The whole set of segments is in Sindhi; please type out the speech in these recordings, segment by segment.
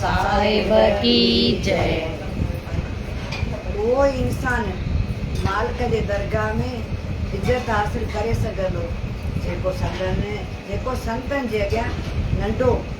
صاحب ڪي جئي. اهو ئي انسان مالڪ جي درگاهه ۾ عزت حاصل ڪري سگهندو جيڪو سندن جيڪو سنتن جي اڳيان ننڍو.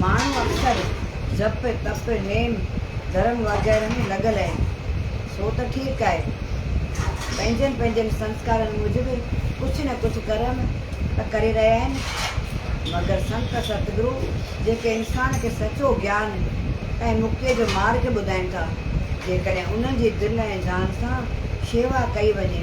ماڻهو اڪثر جپ، تپ، نيم ڌرم وغيره ۾ لڳل آهن، سو ته ٺيڪ آهي. پنهنجن پنهنجن سنسڪارن موجب ڪجهه نه ڪجهه ڪرم ته ڪري رهيا آهن، مگر سنت ستگرو جيڪي انسان کي سچو گيان ۽ مڪتيء جو مارگ ٻڌائين ٿا، جيڪڏهن انهن جي دل ۽ جان سان شيوا ڪئي وڃي،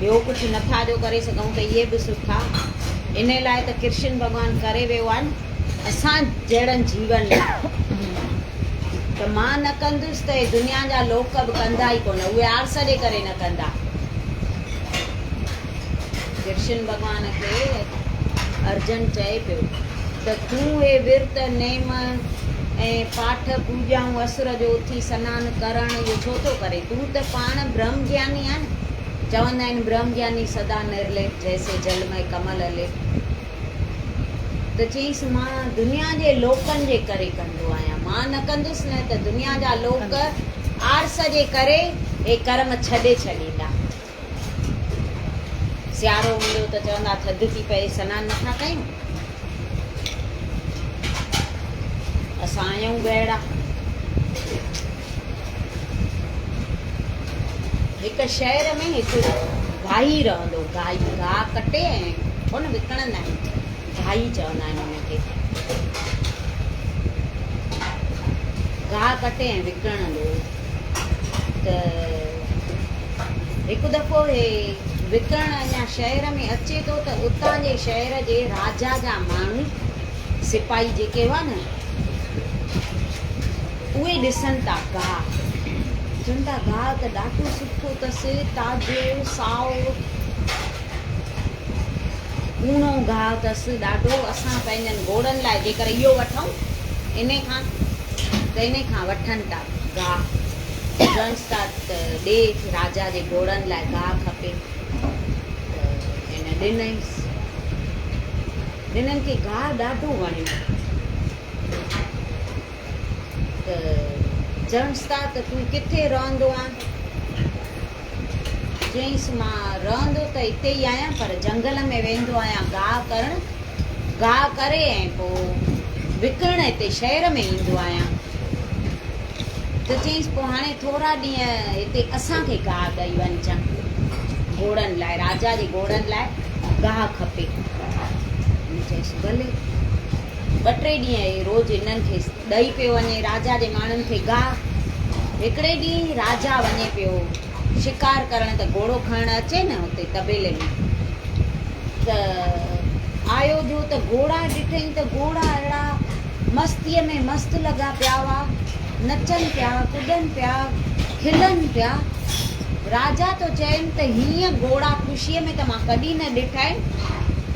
ٻيو ڪجهه نٿا جو ڪري سگهون ته اهي به سٺا انهي لاء ته ڪرشن ڀڳوان ڪري ويو آهن اسان جهڙن جيون لاء ته مان نه ڪندس ته هي دنيا جا لوڪ به ڪندا ئي ڪونه اهي آرس ڏي ڪري نه ڪندا ڪرشن ڀڳوان کي ارجن چئي پيو ته تون هي ورت نيم ۽ پاٺ پوڄائون اسر جو اٿي سنان ڪرڻ اهو ڇو ٿو ڪري تون ته پاڻ برهم گياني آهن چوندا آهن برهم گياني سدا نرليپ جيسي جل مئي ڪمل اليپ ته چيس مان دنيا جي لوڪن جي ڪري ڪندو آهيان مان نه ڪندس نه ته دنيا جا لوڪ آرس جي ڪري هي ڪرم ڇڏي ڇڏيندا سيارو هوندو ته چوندا ٿڌ ٿي پئي سنان نٿا ڪيون اسان آهيون ڳهڙا هڪ شهر ۾ هڪ گاهي رهندو هو. گاهي گاهه ڪٽي ۽ هن وڪڻندا آهن. گاهي چوندا آهن ان کي. گاهه ڪٽي ۽ وڪڻندو هو ته هڪ دفعو هي وڪڻڻ اڃا شهر ۾ اچي ٿو ته اتان جي شهر جي راجا جا ماڻهو سپاهي جيڪي هئا نه اهي ڏسن ٿا گاهه، چون ٿا گاهه ته ڏاڍو سٺو اٿس، تازو، سائو، ڪوڻو گاهه اٿس ڏاڍو، اسان پنهنجن گهوڙن لاء جيڪر اهو وٺون انهي کان ته انهي کان وٺن ٿا گاهه، چونس ٿا ته ڏي راجا جي گهوڙن لاء گاهه کپي ته هن ڏنئيس. ڏنن کي گاهه ڏاڍو وڻيو. ته چيونس ته تون ڪٿي رهندو آن؟ چيائينس مان رهندو ته اتي ئي آهيان پر جهنگل ۾ ويندو آهيان گاهه ڪرڻ، گاهه ڪري ۽ پوء وڪڻڻ هتي شهر ۾ ايندو آهيان. ته چيائينس پوء هاڻي ٿورا ڏينهن هتي اسان کي گاهه ڏئي وڃجان، گهوڙن لاء، راجا جي گهوڙن لاء گاهه کپي. هن چيس ڀلي. ٻه ٽي ڏينهن ئي روز هنن کي ڏئي پيو وڃي. راجا جي ماڻهن کي گاهه. هڪڙي ڏينهن راجا وڃي پيو شڪار ڪرڻ ته گهوڙو کڻڻ اچي نه اتي طبيلي ۾ ته آيو جو ته گهوڙا ڏٺئي ته گهوڙا اهڙا مستيء ۾ مست لڳا پيا هئا. نچن پيا، ڪڏن پيا، کلن پيا. راجا ٿو چئين ته هيئن گهوڙا خوشيء ۾ ته مان ڪڏهن نه ڏٺا آهن.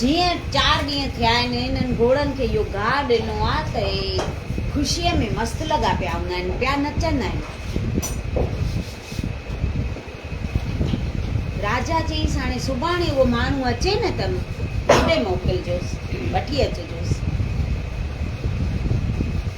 جيئن چار ڏينهن ٿيا آهن انهن گهوڙن کي اهو گاهه ڏنو آهي ته اهي خوشيء ۾ مست لڳا پيا هوندا آهن، پيا نچندا آهن. راجا چيس، هاڻي سڀاڻي اهو ماڻهو اچي نه ته هوڏي موڪلجوس، وٺي اچجوس.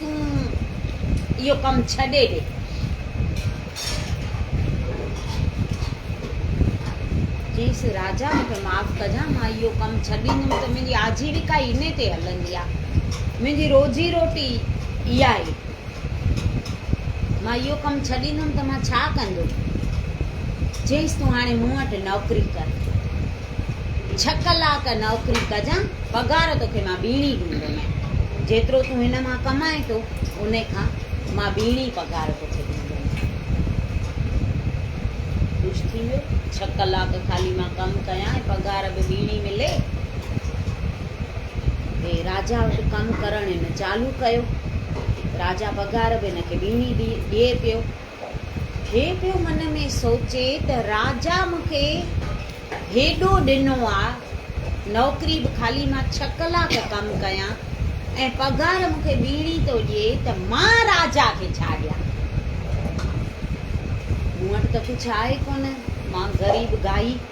تون اهو ڪم ڇڏي ڏي. چيس، راجا مون کي معاف ڪجان، مان اهو ڪم ڇڏيندم ته منهنجي آجيويڪا ئي انهي تي هلندي آ. منهنجي روزي روٽي ئي اها آهي. مان اهو ڪم ڇڏيندم ته مان ڇا ڪندو؟ چيس، تون هاڻي مون وٽ نوڪري ڪر. ڇهه ڪلاڪ نوڪري ڪجان، پگهار توکي مان ٻيڻي ڏيندومين. جيترو تون هن مان ڪمائين ٿو، ان کان مان ٻيڻي پگهار توکي ڏيندومين. خوش ٿي ويو. ڇهه ڪلاڪ خالي مان ڪم ڪيان ۽ پگهار به ٻيڻي ملي. هي راجا وٽ ڪم ڪرڻ هن چالو ڪيو. راجا پگهار به هن کي ٻيڻي ڏئي پيو. هي پيو من ۾ سوچي ته راجا مون کي هيڏو ڏنو آ، نوڪري به خالي مان ڇهه ڪلاڪ ڪم ڪيان ۽ پگهار مون کي ٻيڻي ٿو ڏئي ته مان راجا کي ڇا ڏيان؟ مون وٽ ته ڪجهه آهي ڪونه، مان غريب گائي.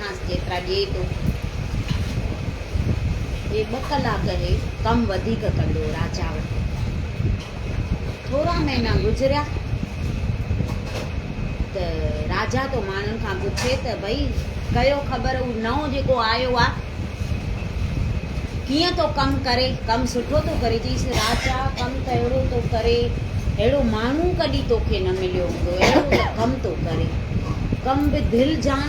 ماس جيترا ڏئي ٿو جي ٻه ڪلاڪ هي ڪم وڌيڪ ڪندو راجا وٽ ٿورا مهينا گذريا ته راجا ٿو ماڻهن کان پڇي ته ڀئي ڪيو خبر هو نئون جيڪو آيو آ ڪيئن ٿو ڪم ڪري ڪم سٺو ٿو ڪري چيس راجا ڪم ته اهڙو ٿو ڪري اهڙو ماڻهو ڪڏي توکي نه مليو هوندو اهڙو ته ڪم ٿو ڪري ڪم به دل جان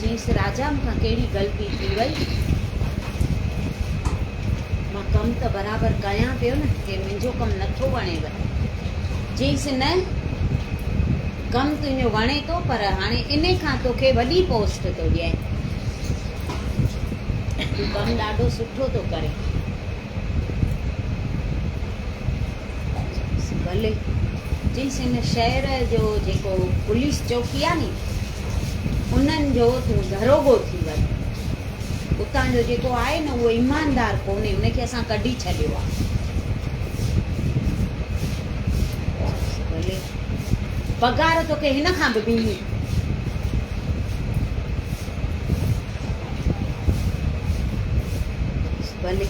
چيس راجا مون کان ڪهڙي غلطي ٿي وئي. مان ڪم ته برابر ڪيان پيو نه هي منهنجو ڪم نٿو وڻيو. چيس نه ڪم تنهنجو وڻي ٿو پر هاڻي ان کان توکي وڏي پوسٽ ٿو ڏيان. تون ڪم ڏاڍو سٺو ٿو ڪرين. بلي چيس هن شهر جو جيڪو پوليس چوڪي آ ني انهن جو تون دروگو ٿي وڃ اتان جو جيڪو آهي نه اهو ايماندار ڪونهي ان کي اسان ڪڍي ڇڏيو آ بلي پگهار توکي هن کان به ڏيني ڀلي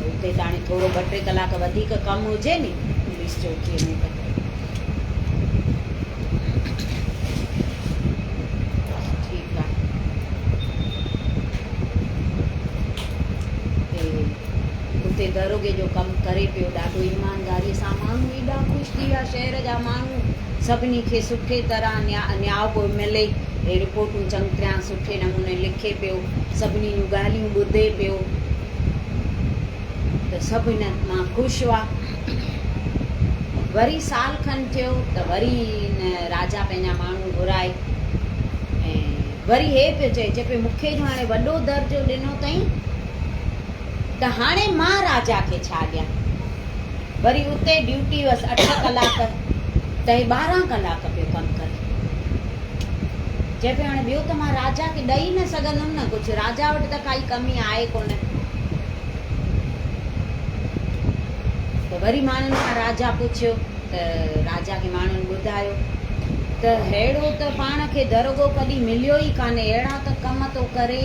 اتي ته هاڻي ٿورو ٻه ٽي ڪلاڪ وڌيڪ ڪم هجي ني پوليس چوڪيء ۾ ته ٺيڪ آ اتي داروغي جو ڪم ڪري پيو ڏاڍو ايمانداري سان ماڻهو ايڏا خوش ٿي ويا شهر جا ماڻهو سڀني کي سٺي طرح نياء پيو ملي رپورٽون چڱ تريان سٺي نموني لکي پيو سڀني جون ڳالهيون ٻڌي پيو ته سڀ هن مان خوش هئا وري سال کن ٿيو ته وري هن راجا پنهنجا ماڻهو گهرائي ۽ وري هي پيو چئي چئي پيو مونکي جو هاڻي وڏو درجو ڏنو تئين ته هاڻي مان راجا کي ڇا ڏيان وري اتي ڊيوٽي هئس اٺ ڪلاڪ ته هي ٻارهن ڪلاڪ پيو ڪم ڪري. چئي پيو هاڻي ٻيو ته مان راجا کي ڏئي نه سگهندم نه ڪجهه، راجا وٽ ته ڪائي ڪمي آهي ڪونه. ته وري ماڻهن کان راجا پڇيو ته راجا کي ماڻهن ٻڌايو ته ههڙو ته پاڻ کي درگو ڪڏهن مليو ئي ڪانهي، اهڙا ته ڪم ٿو ڪري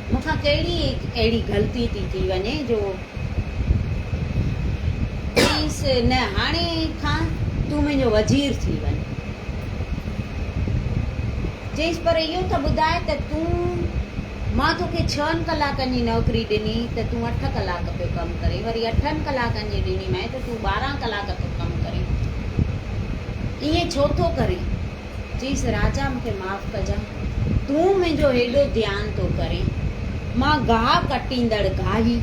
مون کان ڪهڙي اهڙي غلطي ٿي ٿي وڃي جو چيس نه هاڻي کان تون منهنجو وزير ٿي وڃ. چيس پر اهو ته ٻڌاء ته تون مان توکي ڇهن ڪلاڪن جي نوڪري ڏني ته تون اٺ ڪلاڪ پيو ڪم ڪرين وري اٺن ڪلاڪن جي ڏني مانء ته تون ٻارهن ڪلاڪ ٿو ڪم ڪرين. ائين ڇو ٿو ڪرين؟ چيس، راجا مون کي معاف ڪجان، تون منهنجو هيڏو ڌيان ٿو ڪرين، مان گاهه ڪٽيندڙ گاهي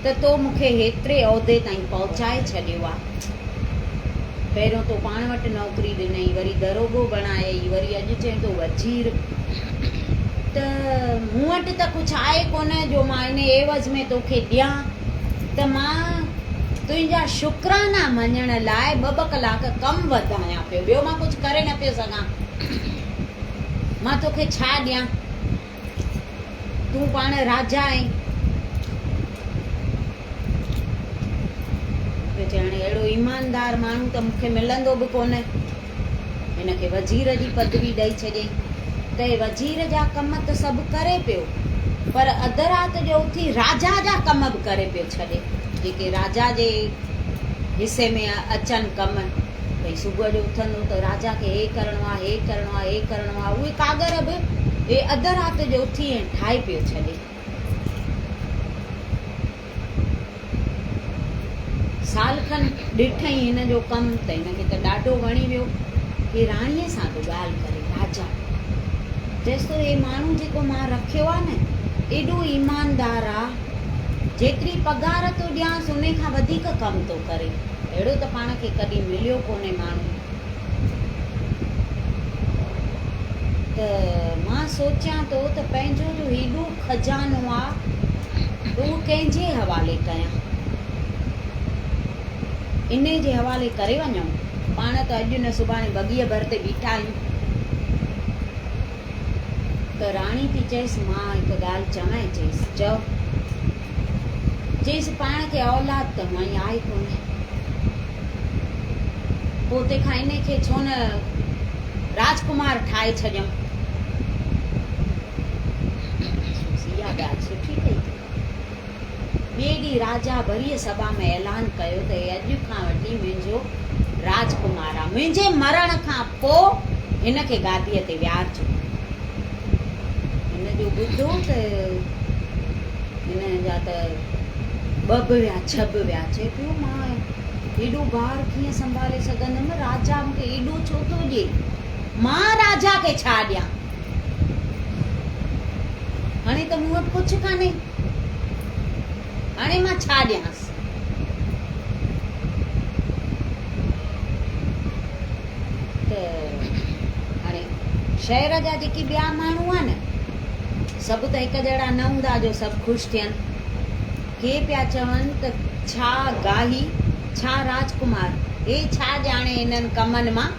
ته تو مون کي هيتري عهدي تائين پهچائي ڇڏيو آ. پهريون تو پاڻ وٽ نوڪري ڏنئي، وري دروڳو بڻايئي، وري اڄ چئين ٿو وزير. ته مون وٽ ته ڪجهه آهي ڪونه جو مان ان عيوض ۾ توکي ڏيان. ته مان تنهنجا شڪرانا مڃڻ لاء ٻه ٻه ڪلاڪ ڪم وڌايان پيو، ٻيو مان ڪجهه ڪري نه پيو سگهان. مان توکي ڇا ڏيان؟ تون پاڻ راجا آهين. پيو چئي، هاڻي اهڙو ايماندار ماڻهو ته مون کي ملندو به ڪونه. هن کي وزير جي پدوي ڏئي ڇڏيائين. ته هي وزير جا ڪم ته سڀ ڪري پيو، پر اڌ رات جو اٿي راجا جا ڪم به ڪري پيو ڇڏي، جيڪي راجا جي حصي ۾ اچن ڪم. ڀئي صبح جو اٿندو ته راجا کي هي ڪرڻو آ، هي ڪرڻو آ، هي ڪرڻو آ، اهي ڪاڳر به هي اڌ رات جو اٿي ۽ ٺاهي پيو ڇڏي. سال کن ڏٺئي هن جو ڪم ته هن کي ته ڏاڍو وڻي ويو. هي راڻيء سان به ڳالهه ڪري. راجا چيس ٿو هي ماڻهو جيڪو مان رکيو آ نه ايڏو ايماندار آ جيتري پگهار ٿو ڏيانس انهي کان وڌيڪ ڪم ٿو ڪري. اهڙو ته پاڻ کي ڪڏهن مليو ڪونهي ماڻهو. ته مان سوچيان ٿو ته پنهنجو جو هيڏو خزانو آ ته اهو ڪنهن جي حوالي ڪيان؟ انهيء جي حوالي ڪري وڃون؟ پاڻ ته اڄ نه سڀاڻي بگيء ڀر تي بيٺا آهيون. ته راڻي ٿي چيس، مان هڪ ڳالهه چوانء، چيس، چؤ. جيس پاڻ کي اولاد ته هونئن آهي ڪونه، پوء تنهنکان انهي کي ڇو نه راجڪمار ٺاهي ڇڏيون. جيس اها ڳالهه سٺي پئي ٿي لڳي. ٻئي ڏينهن راجا وري سڀا ۾ اعلان ڪيو ته هي اڄ کان وٺي منهنجو راجڪمار آهي. منهنجي مرڻ کان پوء هن کي گاديء تي ويهارجو. هن جو ٻڌو ته هن جا ته ٻه به ويا ڇهه به ويا چي پيو مان هيڏو بار ڪيئن سنڀالي سگهندم راجا مون کي ايڏو ڇو ٿو ڏي مان راجا کي ڇا ڏيان هاڻي ته مون وٽ ڪجهه ڪانهي هاڻي مان ڇا ڏيانس؟ ته هاڻي شهر جا جيڪي ٻيا ماڻهو آهن نه سڀ ته هڪ جهڙا نه هوندا جو سڀ خوش ٿين. ڪي پيا چون ته ڇا گاهي، ڇا راجڪمار، هي ڇا ڄاڻي انهن ڪمن مان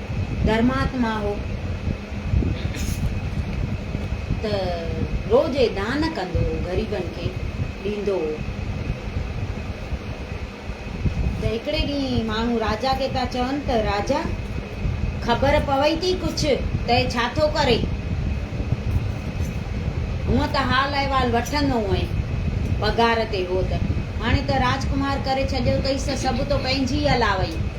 ڌرماتما هو ته روزي دان ڪندو هو غريبن کي ڏيندو هو ته هڪڙي ڏينهن ماڻهو راجا کي پيا چون ته راجا خبر پوي ٿي ڪجهه ته هي ڇا ٿو ڪري هونء ته حال احوال وٺندو هئين پگهار تي هو ته هاڻي ته راجڪمار ڪري ڇڏيو اٿئيس ته سڀ تو پنهنجي الاوئي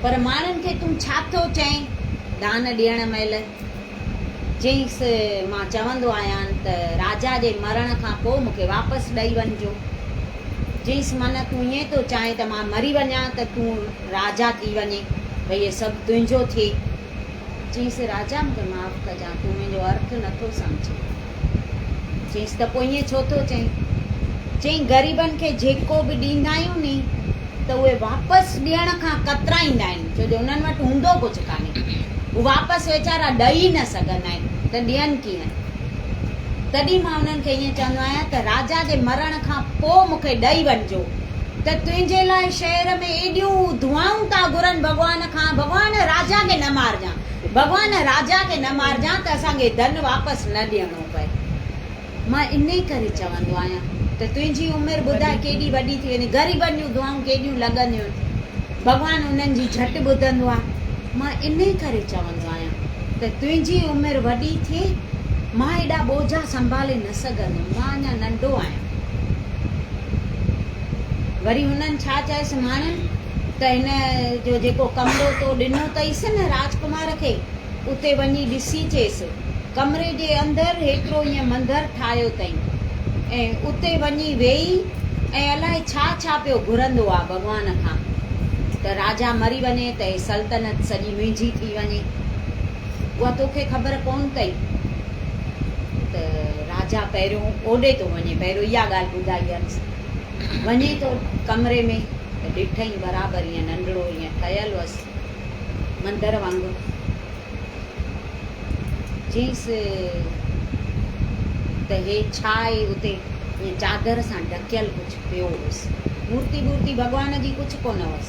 پر ماڻهن کي تون ڇا ٿو چئين؟ دان ڏيڻ مهل چيائينس، مان چوندو آهيان ته راجا جي مرڻ کان پوء مون کي واپس ڏئي وڃجو. چيائينس، معنيٰ تون ائين ٿو چاهين ته مان مري وڃان ته تون راجا ٿي وڃين ۽ هي سڀ تنهنجو ٿئي. چيس راجا مون کي معاف ڪجان تون منهنجو ارٿ نه ٿو سمجهين. چيس ته پوء ائين ڇو ٿو چئين؟ چيائين غريبن کي جيڪو به ڏيندا آهيون ني ته اهي واپس ڏيڻ کان ڪترائيندا آهن ڇو جو انهن وٽ هوندو ڪجهه ڪانهي هو واپس ويچارا ڏئي ئي نه سگهندا آهن ته ڏين ڪيئن؟ تڏهن مان انهن کي ائين چوندو آهيان ته راجا جي مرڻ کان پوء مون کي ڏئي وڃجو ته تنهنجي لاء شهر ۾ ايڏيون دعائون ٿا گهرن ڀڳوان کان ڀڳوان راجا کي نه مارجان ڀڳوان راجا کي نه مارجان ته اسان کي ڌن واپس نه ڏيڻو پئي مان انهي ڪري چوندو آهيان ته تنهنجي عمر ٻڌاء ڪيڏي وڏي ٿي وڃي غريبن جون دعائون ڪيڏيون لڳنديون آهن ڀڳوان انهن جي جهٽ ٻڌندو آهي مان انهي ڪري چوندو آهيان ته تنهنجي عمر وڏي ٿئي مان ايڏا ٻوجها سنڀالي نه سگهندم مان اڃا ننڍو آهيان وري هنن ڇا چيس ماڻهن ته هن جو جيڪو ڪمرو تو ڏنو تئيس نه راجڪمار کي، اتي وڃي ڏسي چيس، ڪمري جي اندر هيترو ايئن منڌر ٺاهيو تئين ۽ اتي وڃي ويهي ۽ الائي ڇا ڇا پيو گهرندو آ ڀڳوان کان ته راجا مري وڃي ته هي سلطنت سڄي منهنجي ٿي وڃي، اها توکي خبر ڪونه تئي ته راجا پهريون اوڏي تو وڃي، پهريون اها ڳالهه ٻڌائينس. وڃي ٿو ڪمري ۾ ته ڏٺئين برابر ايئن ننڍڙو ايئن ٺهيل هئس مندر وانگر. چيس ته هي ڇا آهي اتي ايئن چادر سان ڍڪيل ڪجهه پيو هئس. مورتي ٻورتي ڀڳوان جي ڪجهه ڪونه هئس.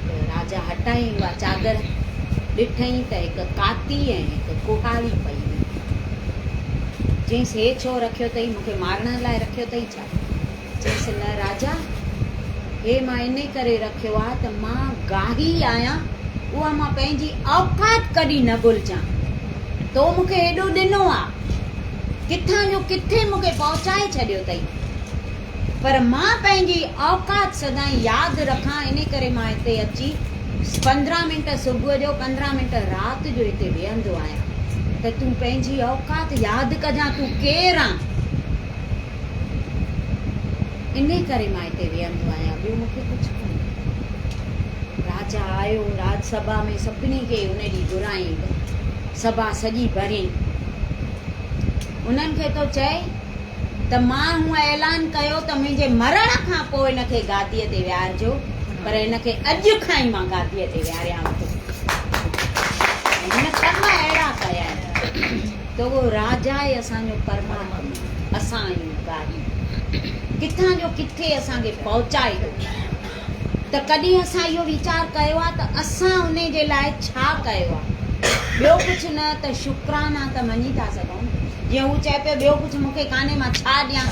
ته راجا هٽائين اها چادر ڏٺئين ته هڪ ڪاتي ۽ هڪ ڪهاڙي پئي هئي. چيس، هي ڇو رکيو ٿئي؟ مون کي مارڻ لاء رکيو ٿئي ڇا؟ چيس، نه راجا، هي مان انهي ڪري رکيو آهي ته مان گاهي آهيان، اها مان پنهنجي اوقات ڪڏهن نه ڀلجان. تو مون کي هيڏو ڏنو آهي، ڪٿان جو ڪٿي مون کي پهچائي ڇڏيو ٿئي. پر مان پنهنجي اوقات سدائين ياد رکان ان ڪري مان هتي اچي پندرهن منٽ صبح جو پندرهن منٽ رات جو هتي ويهندو آهيان ته تون پنهنجي اوقات ياد ڪجان تون ڪير آن ان ڪري مان هتي ويهندو آهيان ٻيو مون کي ڪجهه ڪانهي راجا آيو راج سڀا ۾ سڀني کي ان ڏينهن گهرايائين ته سڀا سڄي ڀريائين انهن کي تو چئي ته مان هونء اعلان ڪيو ته منهنجي مرڻ کان پوء هن کي گاديء تي ويهارجو، پر هن کي اڄ کان ئي مان گاديء تي ويهاريان ٿو. ۽ هن ڪم اهڙا ڪيا آهن ته اهو راجا ئي اسان جو پرماتمو، اسان آهيون گاڏي، ڪٿان جو ڪٿي اسان کي پهچائي ٿو. ته ڪڏهن اسان اهو ويچار ڪيو آهي ته اسان ان جي لاء ڇا ڪيو آهي؟ ٻيو ڪجهه نه ته شڪرانا ته مڃي ٿا سگهون، جيئن هو چئي پيو ٻيو ڪجهه مون کي ڪانهي مان ڇا ڏيان؟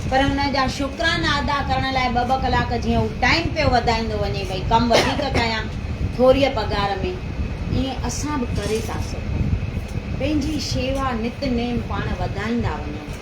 پر ان جا شڪرانا ادا ڪرڻ لاء ٻه ٻه ڪلاڪ جيئن هو ٽائيم پيو وڌائيندو وڃي ڀئي ڪم وڌيڪ ڪيان ٿوريء پگهار ۾ ائين اسان به ڪري ٿا سگهون پنهنجي شيوا نت نيم پاڻ وڌائيندا وڃون.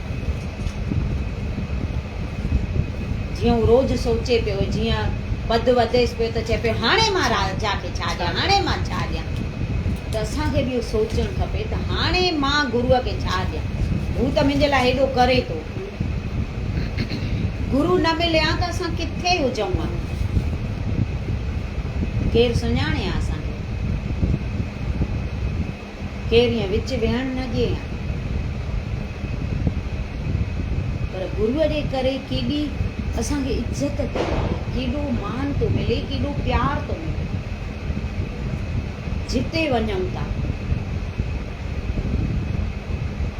جيئن هو روز سوچي پيو، جيئن پڌ وڌيس پيو ته چئي پيو هاڻي مان راجا کي ڇا ڏيان، هاڻي مان ڇا ڏيان؟ ته اسان کي به اهو سوچڻ کپي ته هاڻي مان گروء کي ڇا ڏيان؟ هو ته منهنجي لاء هيڏو ڪري ٿو. گرو نه ملي ها ته اسان ڪٿي هجون ها؟ ڪير سڃاڻي ها اسان کي؟ ڪير ائين وچ ويهڻ نه ڏئي ها. پر گروء جي ڪري ڪيڏي اسان کي عزت ٿي ملي، ڪيڏو مان ٿو ملي، ڪيڏو پيار ٿو ملي. جتي وڃون ٿا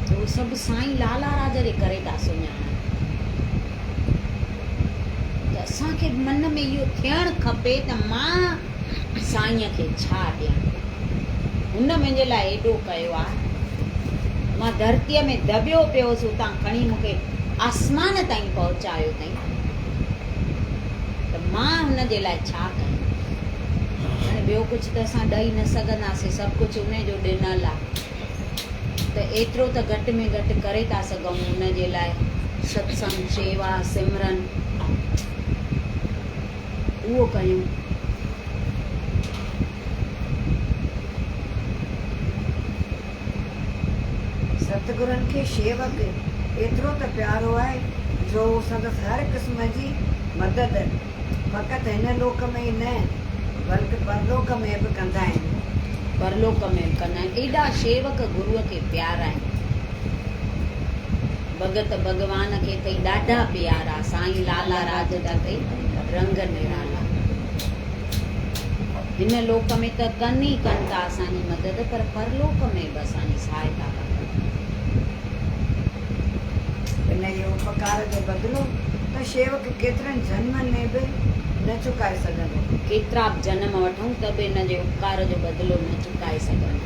ته اهو سڀ سائين لالا راج جي ڪري ٿا سڃاڻن. ته اسان کي به من ۾ اهو ٿيڻ کپي ته مان. سائينء کي ڇا ڏيان؟ هن منهنجي لاء ايڏو ڪيو آ. مان ڌرتيء ۾ دٻيو پيو هوس، اتان کڻي مون کي آسمان تائين پهچايو اٿائين ته مان هن جي لاء ڇا ڪيان؟ هاڻي ٻيو ڪجهه ته اسان ڏئي نه سگهنداسين، سڀ ڪجهه ان جو ڏنل آ ته ايترو ته گهٽ ۾ گهٽ ڪري ٿا سگهون هن جي لاء، ستسنگ، شيوا، سمرن. اهو ڪيون. ستگرن کي شيوڪ ايترو ته پيارو آهي جو هو سندس هر قسم جي مدد فقط هن لوڪ ۾ ئي نه بلڪ پرلوڪ ۾ به ڪندا آهن. پرلوڪ ۾ به ڪندا آهن. ايڏا شيوڪ گروء کي پيارا آهن. ڀڳت ڀڳوان کي ٿئي ڏاڍا پيارا. سائين لالا راج جا ٿئي رنگ نرالا. هن لوڪ ۾ ته ڪن ئي ڪن ٿا اسان جي مدد پر پرلوڪ ۾ به اسان جي سهائتا ڪندا. هن جي اپڪار جو بدلو ته شيوڪ ڪيترن جنمن ۾ به نه چڪائي سگهندو. ڪيترا به جنم وٺون ته به هن جي اپڪار جو بدلو نه چڪائي سگهندو.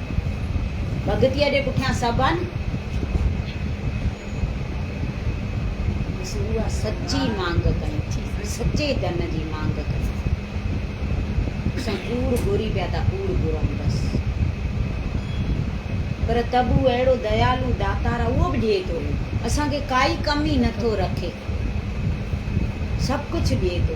ڀڳتيء جي پٺيان سڀ آهن. اها سچي مانگ ڪيون ٿي، سچي ڌن جي مانگ ڪيون ٿي. اسان ڪوڙ گهري پيا ٿا، ڪوڙ گهرون بس. پر ته به هو اهڙو ديالو داتار آهي، اهو به ڏئي ٿو. اسان کي ڪائي ڪمي نه ٿو رکي. سڀ ڪجهه ڏئي ٿو.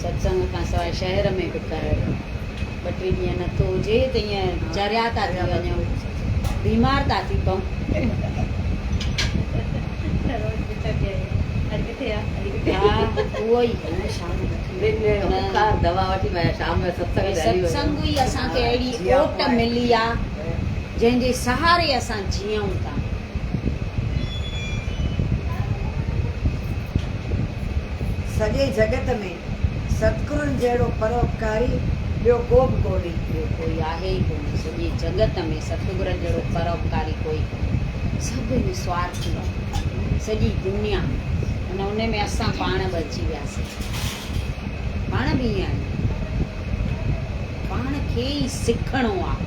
ستسنگ کان سواء شهر ۾ به ڪهڙ. ٻه ٽي ڏينهن نه ٿو هجي ته ايئن چريا ٿا ٿي وڃون، بيمار ٿا ٿي پئون. ستسنگ ئي اسان کي اهڙي اوٽ ملي آ، جنهن جي سهاري اسان جيئون ٿا. سڄي جڳت ۾ ستگرن جهڙو پروپڪاري ٻيو ڪو به ڪونهي. ٻيو ڪوئي آهي ئي ڪونه. سڄي جڳت ۾ ستگرن جهڙو پروپڪاري ڪوئي ڪونهي. سڀ هن سوارٿي آهن. سڄي دنيا ان ان ۾ اسان پاڻ به اچي وياسين. پاڻ به ائين آهيون. پاڻ کي ئي سکڻو آهي.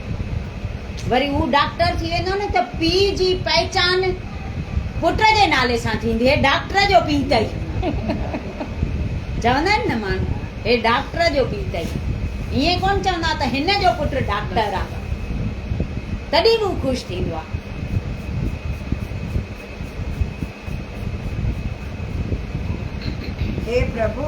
وري هو ڊاڪٽر ٿي ويندو نه ته پيء جي پهچان پٽ جي نالي سان ٿيندي، هي ڊاڪٽر جو پيء اٿئي. چوندا آهن نه ماڻهو، هي ڊاڪٽر جو پيء اٿئي. ائين ڪونه چوندا ته هن جو پٽ ڊاڪٽر آ. تڏهن به هو خوش ٿيندو آ. هي پرڀو،